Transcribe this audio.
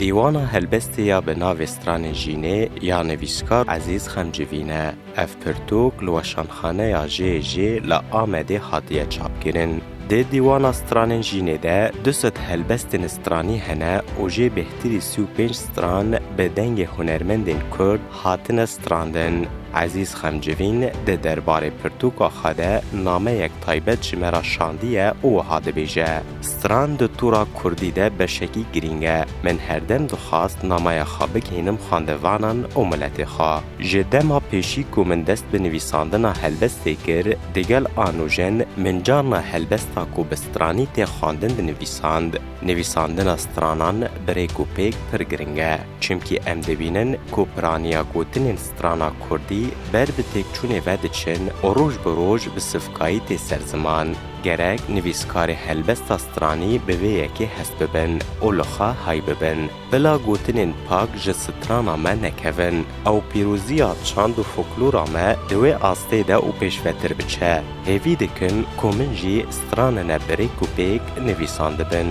Dîwana helbestê ya bi navê Stranên Jînê ya nivîskar Ezîz Xemcivîn e. Ev pirtûk li Weşanxaneya JJ li Amedê hatiye çapkirin. Di Dîwana Stranên Jînê de du sed helbestên stranî hene û jê bêhtirî sî û pênc stran bi dengê hunermendên Kurd hatine strandin. Ezîz Xemcivîn di derbarê pirtûka xwe de nameyek taybet ji me re şandiye û wiha dibêje. Stran di tura kurdî de beşekî girîng e. Min herdem dixwast namaya xwe bigihînim xwendevanan û miletê xwe. Ji dema pêşî ku min dest bi nivîsandina helbestê kir, digel Anûjen min carna helbesta ku bi stranî tê xwendin dinivîsand. Nivîsandina stranan bi rêk û pêk pir girîng e. Çimkî em dibînin ku piraniya gotinên strana kurdî ber bi têkçûnê ve diçin û roj bi roj bi sivkayî tê ser ziman. Gerek nivîskarê helbesta stranî bi vê yekê hest bibin û li xwe hay bibin. Bila gotinên pak ji strana me nekevin. Ew pîroziya çand û foklora me di wê astê de û pêşvetir biçe. Hêvî dikin ku min jî stranine bi rêk û pêk nivîsandibin.